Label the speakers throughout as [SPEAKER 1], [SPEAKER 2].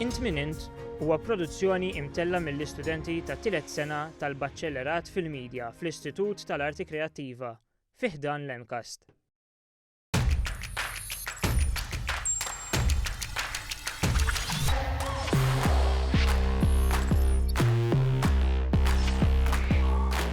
[SPEAKER 1] Int Min Int huwa produzzjoni imtella' mill-istudenti tat-tielet sena tal-Baċellerat fil-Media fl-Istitut tal-Arti Kreattiva fi ħdan l-MCAST.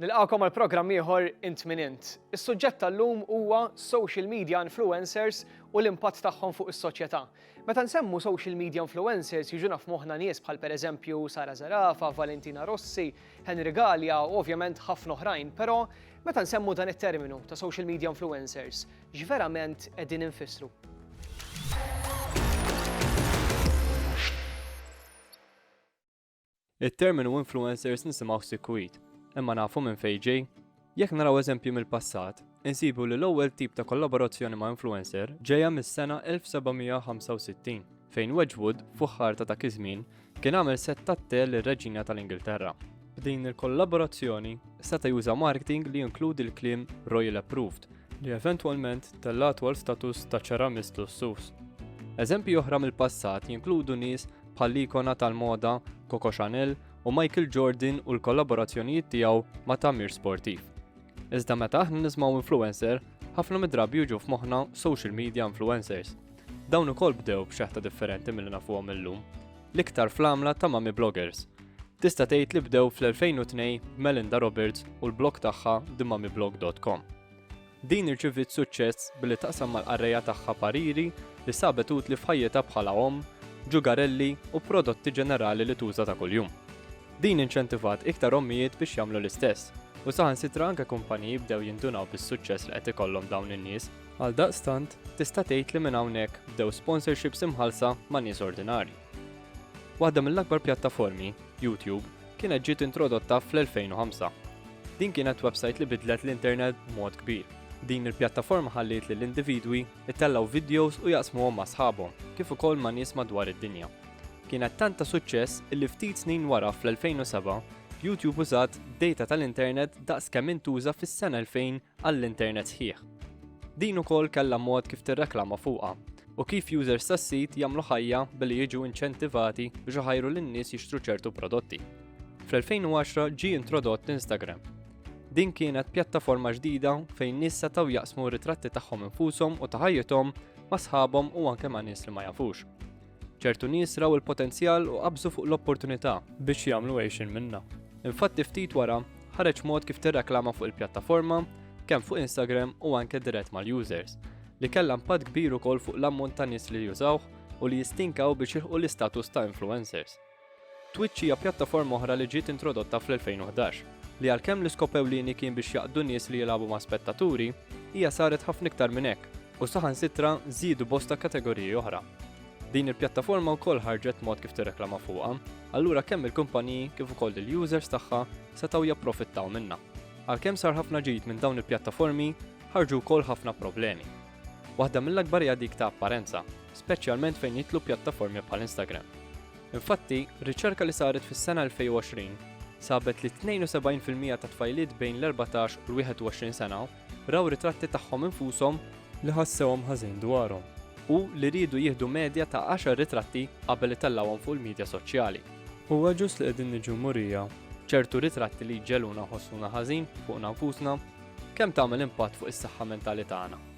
[SPEAKER 2] Nilqagħkom għal programm ieħor Int Min Int. Is-suġġett tal-lum huwa social media influencers u l-impatt tagħhom fuq is-soċjetà. Meta nsemmu social media influencers jiġuna f'moħħna nies bħal pereżempju Sara Zarafa, Valentina Rossi, Henry Gallia u ovvjament ħafna oħrajn, però meta nsemmu dan it-terminu ta' social media influencers, x'verament qegħdin infissru?
[SPEAKER 3] It-terminu influencers nisimgħuh sikwit, imma nafu minn fejn ġej? Jekk naraw eżempji mill-passat, insibu li l-ewwel tip ta' kollaborazzjoni ma' influencer ġejja mis-sena 1765, fejn Wedgwood, fuħħar ta' dak iż-żmien, kien għamel sett tat-te lir-Reġina tal-Ingilterra. B'din il-kollaborazzjoni, seta' juża marketing li jinkludi l-kliem Royal Approved, li eventwalment tellagħtu għal status ta' ċaramist lussuż. Eżempji oħra mill-passat jinkludu nies bħall-ikona tal-moda Coco Chanel u Michael Jordan u l-kollaborazzjonijiet tiegħu ma' tagħmir sportiv. Iżda meta aħna nismaw influencer, ħafna mid-drabi jiġu f'moħħna social media influencers. Dawn ukoll bdew b'xeħta differenti mill nafuhom illum. L-iktar fl-għamla ta' mami bloggers. Tista' tgħid li bdew fl-2002 Melinda Roberts u l-blog tagħha themamiblog.com. Din irċiviet suċċess billi taqsam mal-qarrejja tagħha pariri li sabet utli f'ħajjitha bħala omm, ġugarelli u prodotti ġenerali li tuża ta' kuljum. Din inċentivat iktar ommijiet biex jagħmlu l-istess, u saħansitra anke kumpaniji bdew jindunaw bis-suċċess li qed ikollhom dawn in-nies. Għaldaqstant, tista' tgħid li minn hawnhekk bdew sponsorships imħallsa ma' nies ordinarji. Waħda mill-akbar pjattaformi, YouTube, kienet ġiet introdotta fl-2005. Din kienet websajt li bidlet l-internet b'mod kbir. Din il-pjattaforma ħalliet lil individwi jtellgħu vidjos u jaqsmuhom ma' sħabhom, kif ukoll ma' nies madwar id-dinja. Kienet tant ta' suċċess illi ftit snin wara fl-2007, YouTube użat dejta tal-internet daqs kemm intuża fis-sena 2000 għall-internet sħiħ. Din ukoll kellha mod kif tirreklama fuqha u kif users tas-sit jagħmlu ħajja billi jiġu inċentivati biex iħajru lin-nies jixtru ċertu prodotti. Fl-2010 ġie introdott Instagram. Din kienet pjattaforma ġdida fejn nies setgħu jaqsmu ritratti tagħhom infushom u ta' ħajjithom ma' sħabhom u anke ma' nies li ma jafux. Ċertu nies raw il-potenzjal u qabżu fuq l-opportunità biex jagħmlu għejxien minnha. Infatti ftit wara, ħareġ mod kif tirreklama fuq il-pjattaforma, kemm fuq Instagram u anke dirett mal-users, li kellha impatt kbir ukoll fuq l-ammont ta' nies li jużawh u li jistinkaw biex jilħqu l-istatus ta' influencers. Twitch hija pjattaforma oħra li ġiet introdotta fl-2011, li għalkemm l-iskop ewlieni kien biex jaqdu nies li jilagħbu ma' spettaturi, hija saret ħafna iktar minn hekk u saħansitra żiedu bosta kategoriji oħra. Din il-pjattaforma wkoll ħarġet mod kif tirreklama fuqha, allura kemm il-kumpaniji kif ukoll il-users tagħha setgħu japprofittaw minnha. Għalkemm sar ħafna ġid minn dawn il-pjattaformi, ħarġu wkoll ħafna problemi. Waħda mill-akbar hija dik ta' apparenza, speċjalment fejn jidħlu pjattaformi bħal Instagram. Infatti, riċerka li saret fis-sena 2020 sabet li 72 fil-mija ta' tfajliet bejn l-14 u l-21 sena raw ritratti tagħhom infushom li ħassewhom ħażin dwarhom u li riedu jieħdu medja ta' 10 ritratti qabel itellawhom fuq il-midja soċjali. Huwa ġust li qegħdin niġu murija ċertu ritratti li jġeluna ħossuna ħażin fuqna nfusna Kemm tagħmel impatt fuq is-saħħa mentali tagħna?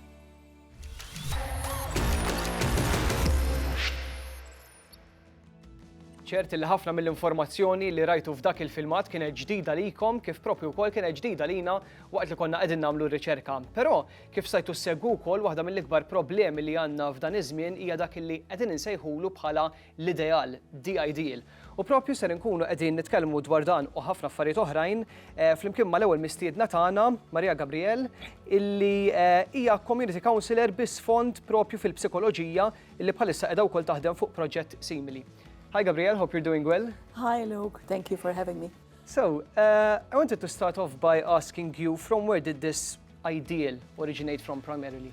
[SPEAKER 2] ċert li ħafna mill-informazzjoni li rajtu f'dak il-filmat kienet ġdida likom kif propju wkoll kienet ġdida lina waqt li konna qegħdin nagħmlu r-riċerka. Però kif sajtu segwu wkoll waħda mill-ikbar problemi li għandna f'dan iż-żmien hija dak li qegħdin insejħulu bħala l-ideal, the ideal. U propju ser inkunu qegħdin nitkellmu dwar dan u ħafna affarijiet oħrajn eh, flimkien mal-ewwel mistiedna tagħna, Maria Gabriel, illi eh, hija community counselor bi sfond propju fil-psikoloġija illi bħalissa qiegħda wkoll taħdem fuq proġett simili. Hi Gabriel, hope you're doing well. Hi Luke, thank
[SPEAKER 4] you for having me. So, uh,
[SPEAKER 2] I wanted to start off by asking you from where did this ideal originate from primarily?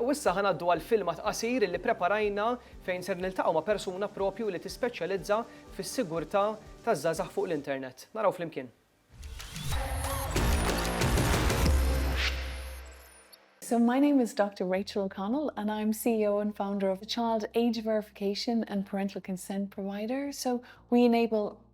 [SPEAKER 2] U issa ħa ngħaddu għal filmat qasir li ppreparajna fejn ser niltaqgħu ma' persuna proprju li tispeċjalizza fis-sigurtà taż-żgħażagħ fuq l-internet. Naraw flimkien.
[SPEAKER 5] So my name is Doctor Rachel O'Connell and I'm CEO and founder of a child age verification and parental consent provider. So we enable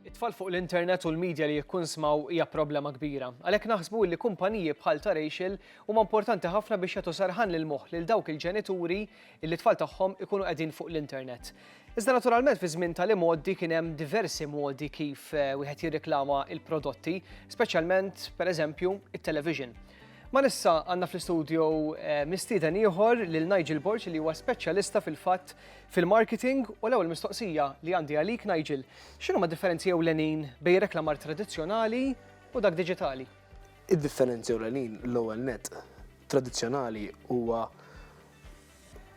[SPEAKER 2] It-tfal fuq l-internet u l-media li jikkunsmaw hija problema kbira. Għalhekk naħsbu li kumpaniji bħal ta' Rachel huma importanti ħafna biex jagħtu serħan lil moħħ lil dawk il-ġenituri illi t-tfal tagħhom ikunu qegħdin fuq l-internet. Iżda naturalment fi żmien tal-imgħoddi kien hemm diversi modi kif eh, wieħed jirreklama il-prodotti, speċjalment pereżempju it-television. Ma nissa għanna fl-studio eh, mistieden ieħor lil Nigel Borg li huwa speċjalista fil-fatt fil-marketing u l-ewwel mistoqsija li għandi għalik Nigel, x'inhuma d-differenzi ewlenin bejn reklamar tradizzjonali u dak diġitali? Id-differenzi
[SPEAKER 6] ewlenin l-ewwel net tradizzjonali huwa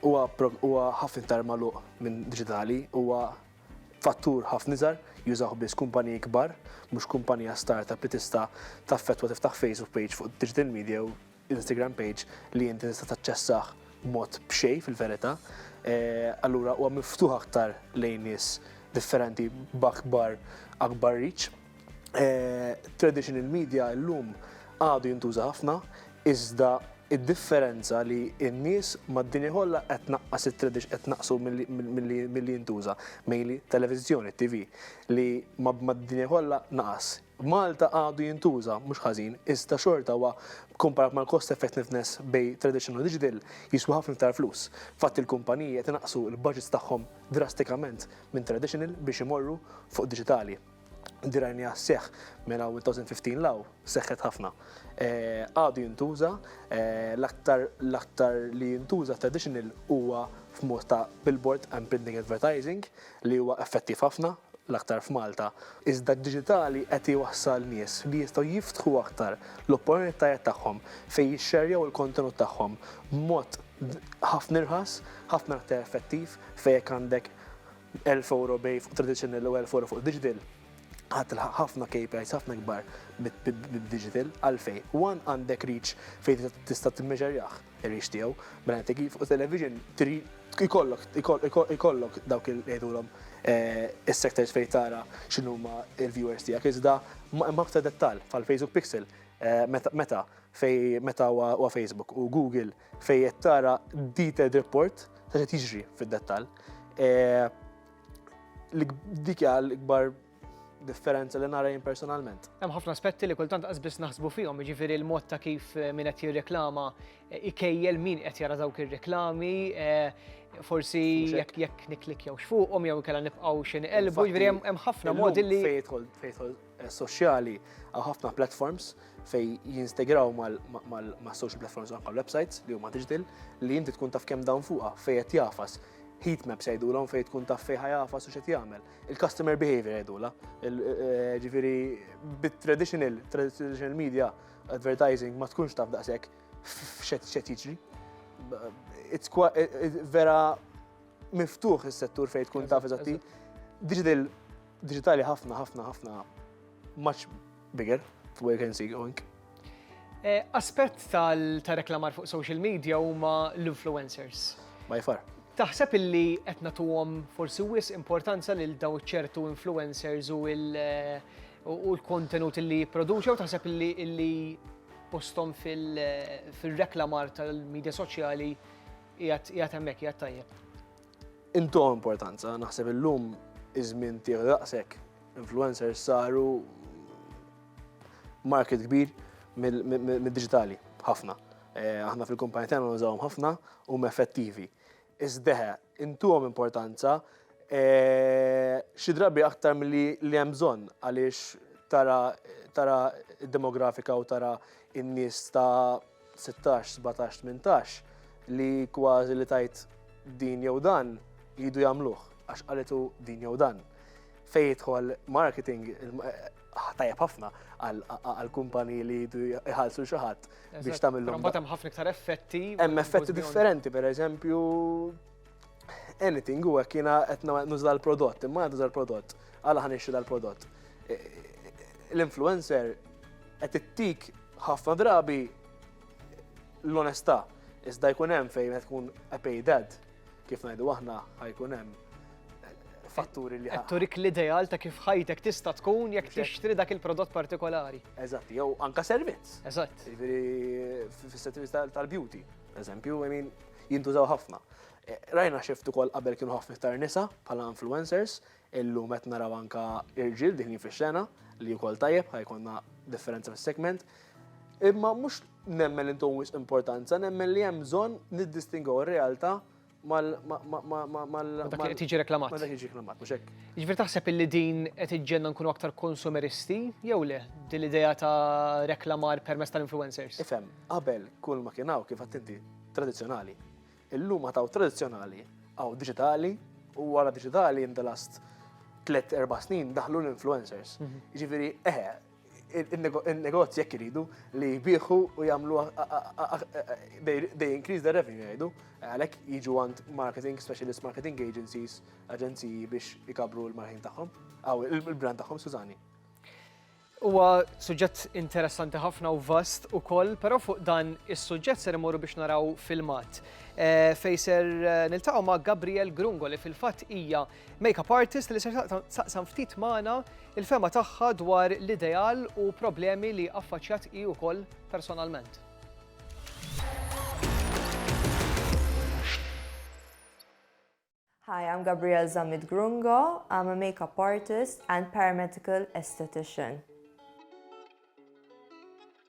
[SPEAKER 6] huwa ħafna iktar magħluq minn diġitali, huwa fattur ħafna iżgħar jużaw biss kumpaniji kbar, mhux kumpanija startup li tista' taffettwa tiftaħ Facebook page fuq digital media u Instagram page li inti tista' taċċessah b'mod b'xejn fil-verità, allura huwa miftuħ aktar lejn nies differenti b'akbar akbar reach. Traditional media llum għadu jintuża ħafna, iżda d-differenza li n-nies mad-dinja kollha qed tnaqqas it-tradi qed tnaqqsu milli milli jintuża, mainly televiżjoni, TV, li mad-dinja kollha naqas. Malta għadu jintuża, mhux ħażin, iżda xorta huwa, kkumparat mal-cost effectiveness bejn tradition u digital, jiswa ħafna iktar flus. Infatti l-kumpaniji qed inaqqsu l-budgets tagħhom drastikament minn traditional biex imorru fuq diġitali. Din rajniha sseħħ minn hawn 2015 'l hawn, seħħet ħafna. Għadu jintuża, l-aktar l-aktar li jintuża traditional huwa f'mod ta' billboard and printing advertising, li huwa effettiv ħafna, l-aktar f'Malta, iżda d-diġitali qed iwassal nies li jistgħu jiftħu aktar l-opporunitajet tagħhom fejn jixxerjaw il-kontenut tagħhom b'mod ħafna irħas, ħafna aktar effettiv fejn jekk għandek elf ewro bej fuq traditional u elf ewro fuq digital ħa tilħaq ħafna KPIs ħafna ikbar bid-digital għalfejn one għandek reach fejn tista' timmeasurjah, Irix tiegħu, mela inti kif u television trid ikollok ikollok dawk il ngħidulhom is-sectors fejn tara x'inhuma l-viewers tiegħek iżda hemm aktar dettall bħal Facebook Pixel meta meta fejn meta huwa Facebook u Google fejn qed tara detailed report ta' x'qed jiġri fid-dettall. Dik hija l-ikbar differenza li nara jien personalment. Hemm ħafna aspetti li
[SPEAKER 2] kultant qasbis naħsbu fihom, jiġifieri l-mod ta' kif eh, min qed jirreklama eh, ikejjel min qed jara dawk ir-reklami, eh, forsi jekk jekk niklik jew xfuqhom jew kellha nibqgħu xi niqelbu, jiġifieri hemm ħafna modi li fejtħol
[SPEAKER 6] soċjali għaw ħafna platforms fej jinstegraw ma' social platforms anka websites li huma digital li inti tkun taf kemm dawn fuqha fejn qed jafas heat maps jgħidulhom fejn tkun taf fejn ħajafas u x'qed jagħmel. il-customer behavior għedula. Eh, ġifiri, bit-traditional, traditional media advertising ma tkunx taf daqsek f'xet xet jiġri. Eh, vera miftuħ il-settur fejn tkun taf eżatti. Digital, digitali ħafna, ħafna, ħafna, much Bigger, where can see going?
[SPEAKER 2] Aspett tal-reklamar fuq social media huma l-influencers. By far.
[SPEAKER 6] Taħseb illi
[SPEAKER 2] qed nagħtuhom forsi wis importanza lil daw ċertu influencers u l-kontenut li jipproduċew taħseb illi postom fil-reklamar tal-medja soċjali jgħat hemmhekk jgħat tajjeb? Intuhom
[SPEAKER 6] importanza, naħseb illum iż-żmien tiegħu daqshekk Influencers saru market kbir mid-diġitali, ħafna. Eh, aħna fil-kumpanija tagħna nużawhom ħafna u effettivi. Iżdeħe, intuhom importanza eh, xi drabi aktar milli li hemm bżonn għaliex tara tara demografika u tara in-nies ta' 16, 17, 18 li kważi li tajt din jew dan jidu jagħmluh għax qalitu din jew dan. Fej jidħol marketing ah, tajjeb ħafna għal kumpani li jidu jħallsu xi ħadd biex tagħmilhom. Mbagħad hemm ħafna iktar effetti.
[SPEAKER 2] Hemm effetti
[SPEAKER 6] differenti, pereżempju anything u hekk jiena qed nuża l-prodott, imma qed nuża l-prodott, għala ħan ixtri dal-prodott. E, l-influencer qed ittik ħafna drabi l-onestà, iżda jkun hemm fejn qed tkun a paid ad, kif ngħidu aħna ħajkun hemm fatturi li ħadd. Turik l-ideal ta'
[SPEAKER 2] kif ħajtek tista' tkun jekk tixtri dak il-prodott partikolari. Eżatt, jew anka
[SPEAKER 6] servizz. Eżatt. Jiġifieri fis-servizz tal-beauty. Eżempju, I mean, jintużaw ħafna. Eh, rajna xift ukoll qabel kienu ħafna iktar nisa bħala influencers, illum qed naraw anka irġiel din fix-xena li wkoll tajjeb ħajkonna differenza fis-segment. Imma mhux nemmen intom importanza, nemmen li hemm bżonn niddistingaw ir-realtà ma' dak
[SPEAKER 2] li qed jiġi reklamat. Ma' dak li jiġi reklamat, mhux hekk?
[SPEAKER 6] Jiġifieri taħseb illi din
[SPEAKER 2] qed iġġenna nkunu aktar konsumeristi jew le din l-idea ta' reklamar permezz tal-influencers? Ifhem, qabel
[SPEAKER 6] kull ma kien hawn kif għedt inti tradizzjonali. Illum għad hawn tradizzjonali, hawn diġitali u wara diġitali in the last tliet erba' snin daħlu l-influencers. Jiġifieri eħe, il-negozji jekk iridu li jbieħu u jagħmlu they increase the revenue jgħidu, għalhekk jiġu għand marketing, specialist marketing agencies, aġenziji biex ikabru l-marħin tagħhom, aw il-brand tagħhom, Sużani.
[SPEAKER 2] Huwa suġġett interessanti ħafna u vast ukoll, però fuq dan is-suġġett ser imorru biex naraw filmat. Eh, Fejser eh, niltaqgħu ma' Gabriel Grungo li fil-fatt hija Makeup artist li se taqsam ftit magħna il-fema tagħha dwar l-ideal u problemi li affaċjat hi wkoll personalment.
[SPEAKER 7] Hi, I'm Gabrielle Zamit Grungo. I'm a makeup artist and paramedical esthetician.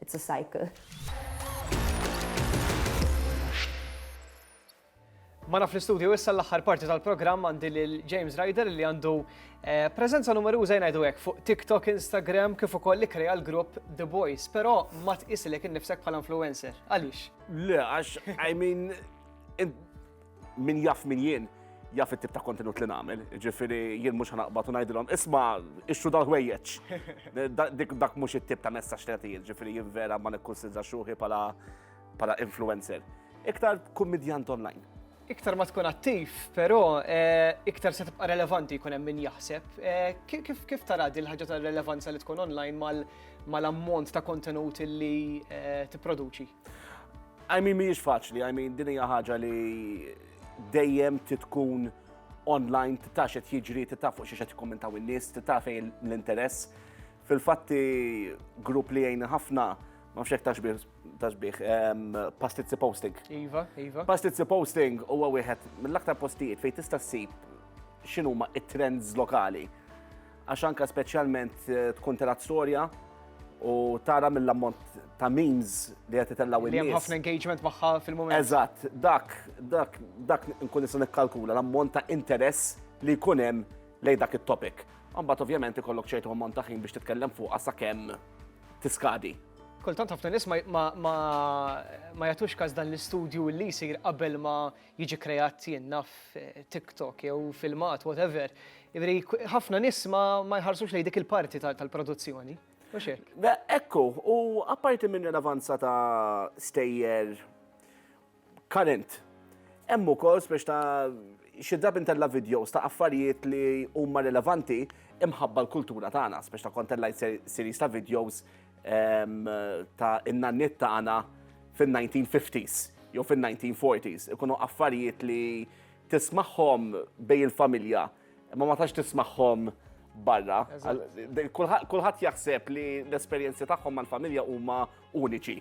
[SPEAKER 7] It's a cycle.
[SPEAKER 2] Mana fl-istudju issa l-aħħar parti tal-programm għandi lil James Ryder li għandu eh, preżenza numeruża jngħidu hekk fuq TikTok, Instagram kif ukoll li krea l-grupp The Boys, però ma tqisilek innifsek bħala influencer. Għaliex? Le, għax
[SPEAKER 8] I mean Min jaf min jien, jaf it-tip ta' kontenut li nagħmel, ġifieri jien mhux ħanaqbad u ngħidilhom isma' ixxu dal-ħwejjeġ. Dak mhux it-tip ta' messaġġ li nagħti jien, ġifieri jien vera ma nikkunsidra xruħi bħala influencer. Iktar kummidjant online. Iktar ma tkun
[SPEAKER 2] attiv, però eh, iktar se tibqa' relevanti jkun hemm min jaħseb. Eh, kif tara din ħaġa ta' relevanza li tkun online mal-ammont ta' kontenut li eh, tipproduċi?
[SPEAKER 8] I mean, mhijiex faċli, I mean, din hija ħaġa li dejjem titkun online, titaf xed jiġri, titaf fuq xi xed jikkommentaw in-nies, titaf fejn l-interess. Fil-fatti grupp li jgħin ħafna, ma fxek taxbih, taxbih, pastizzi posting. Iva, iva.
[SPEAKER 2] Pastizzi posting
[SPEAKER 8] huwa wieħed mill-aktar postijiet fejn tista' ssib x'inhuma it-trends lokali. Għax anke speċjalment eh, tkun telat storja u tara mill-ammont ta' memes li qed itellgħu in-nies. Hemm ħafna engagement
[SPEAKER 2] magħha fil-mument. Eżatt, dak,
[SPEAKER 8] dak, dak nkun nista' nikkalkula l-ammont ta' interess li jkun hemm lejn dak it-topic. Mbagħad ovvjament ikollok ċertu ammont ta' ħin biex titkellem fuq sa kemm tiskadi. Kultant ħafna
[SPEAKER 2] nies ma jagħtux każ dan l-istudju li jsir qabel ma jiġi kreat jien naf TikTok jew filmat, whatever, jiġifieri ħafna nies ma jħarsux lejn dik il-parti tal-produzzjoni. Mhux hekk? Ekku, u
[SPEAKER 8] apparti minn rilevanza ta' stejjer current, hemm ukoll spiex ta' xi drabi ntella' videos ta' affarijiet li huma rilevanti imħabba l-kultura tagħna, spiex ta' kont tellgħajt series ta' videos ta' in-nanniet tagħna fin-1950s jew fin-1940s. Ikunu affarijiet li tismagħhom bej il-familja, ma ma tax tismagħhom barra. Kulħadd jaħseb li l-esperjenzi tagħhom mal-familja huma uniċi.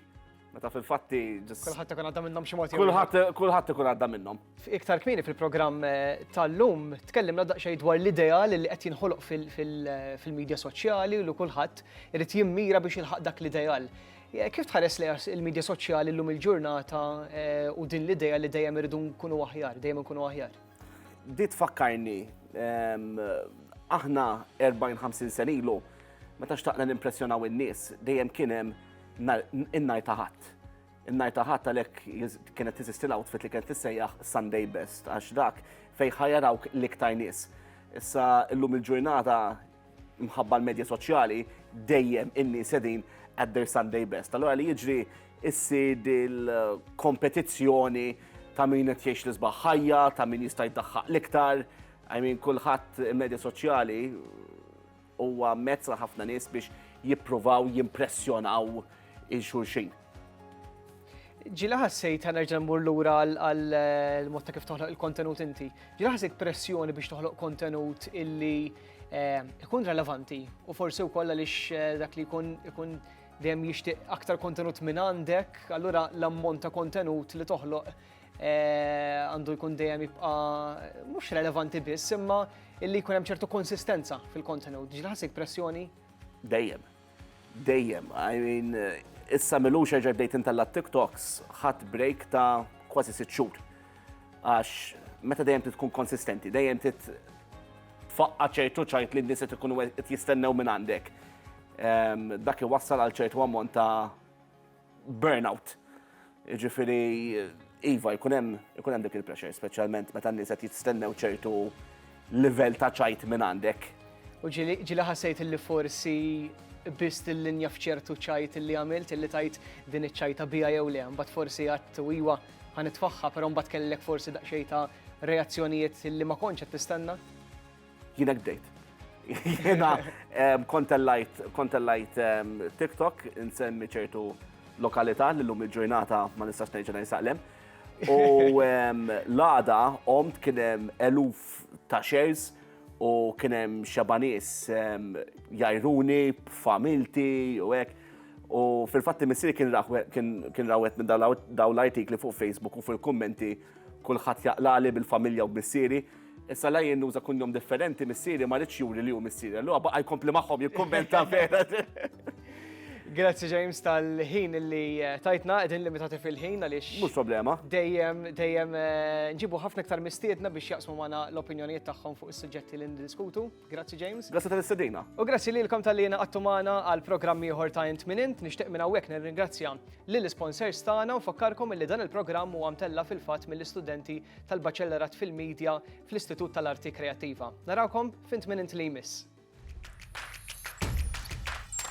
[SPEAKER 8] Meta fil-fatti ġis. Kulħadd ikun għadda minnhom
[SPEAKER 2] xi mod. Kulħadd kulħadd ikun għadda
[SPEAKER 8] minnhom. Iktar kmieni fil-programm
[SPEAKER 2] eh, tal-lum tkellimna daqsxejn dwar l-idea li qed jinħoloq fil-medja soċjali u kulħadd irid jimmira biex jilħaq dak l-ideal. Eh, kif tħares li il-medja soċjali llum il-ġurnata eh, u din l-idea li dejjem irridu nkunu aħjar, dejjem nkunu aħjar? Di
[SPEAKER 8] tfakkarni ehm, aħna 40-50 senilu, meta xtaqna nimpressjonaw in-nies, dejjem kien hemm In-nhar ta' Ħadd. In-nhar ta' Ħadd għalhekk kienet tiżisti l-outfit li kienet tissejjaħ Sunday Best għax dak fejn ħajarawk l-iktar nies. Issa llum il-ġurnata mħabba l-medja soċjali dejjem in-nies qegħdin at their Sunday Best. Allura li jiġri issir il-kompetizzjoni ta' min qed jgħix l-isbaħ ħajja, ta' min jista' jdaħħaq l-iktar, I mean kulħadd medja soċjali Huwa mezz għal ħafna nies biex jippruvaw jimpressjonaw il xulxin.
[SPEAKER 2] Ġila ħassejt ta' nerġa' mmur lura għal eh, mod ta' kif toħloq il-kontenut inti. Ġila ħassejt pressjoni biex toħloq kontenut illi eh, ikun relevanti u forsi wkoll għaliex eh, dak li jkun ikun dejjem jixtieq aktar kontenut minn għandek, allura l-ammont ta' kontenut li toħloq eh, għandu jkun dejjem jibqa' mhux relevanti biss, imma illi jkun hemm ċertu konsistenza fil-kontenut. Ġilħasik pressjoni? Dejjem.
[SPEAKER 8] Dejjem. I mean, issa milux ġaj bdejt intella TikToks ħadd break ta' kważi sitt xhur. Għax meta dejjem tkun konsistenti, dejjem tit tfaqqa ċertu ċajt li n-nies qed jistennew minn għandek. Ehm, dak iwassal għal ċertu ammont ta' burnout. Jiġifieri iva jkun hemm ikun hemm dik il-pressure, speċjalment meta n-nies qed jistennew ċertu livell ta' ċajt minn għandek. U ġieli ġieli
[SPEAKER 2] ħassejt li forsi biss il-linja f'ċertu ċajt li għamilt li tajt din iċ-ċajta biha jew le, mbagħad forsi għadt u iva ħanitfaħħa, però mbagħad kellek forsi daqsxejn ta' reazzjonijiet li ma kontx qed tistenna? Jien hekk
[SPEAKER 8] bdejt. Jiena kontellajt kontellajt TikTok insemmi ċertu lokalità li llum il-ġurnata ma nistax ngħid ġenaj saqlem. U l-għada omt kien hemm eluf ta' shares u kien hemm xabanis jajruni, familti u hekk. U fil-fatt missiri kien rawet minn daw l-artikli fuq Facebook u fil-kummenti kulħadd jaqlali bil-familja u b'missieri. Issa la jien nuża kunjom differenti missieri ma rridx juri li hu missieri. Allura baqa' jkompli magħhom jikkummenta vera.
[SPEAKER 2] Grazzi James tal-ħin li eh, tajtna, edin limitati fil-ħin għaliex. Mhux problema. Dejjem,
[SPEAKER 8] dejjem
[SPEAKER 2] eh, nġibu ħafna iktar mistiedna biex jaqsmu magħna l-opinjonijiet tagħhom fuq is-suġġetti li ndiskutu. Grazzi James. Grazzi tal-istedina. U
[SPEAKER 8] grazzi lilkom tal-li
[SPEAKER 2] naqattu magħna għal programm ieħor ta' int minn int nixtieq minn hawnhekk nirringrazzja lil sponsors tagħna u fakkarkom li dan il-programm huwa mtella fil-fatt mill-istudenti tal-Baċellerat fil-Media fl-Istitut tal-Arti Kreattiva. Narawkom fint minn int li jmiss.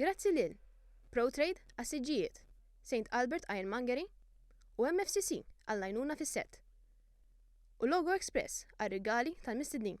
[SPEAKER 9] Grazzi lil, Proutrade għas-siġġijiet, St Albert Ironmongery u MFCC għall-għajnuna fis-sett, u Logo Express għar-rigali tal-mistednin.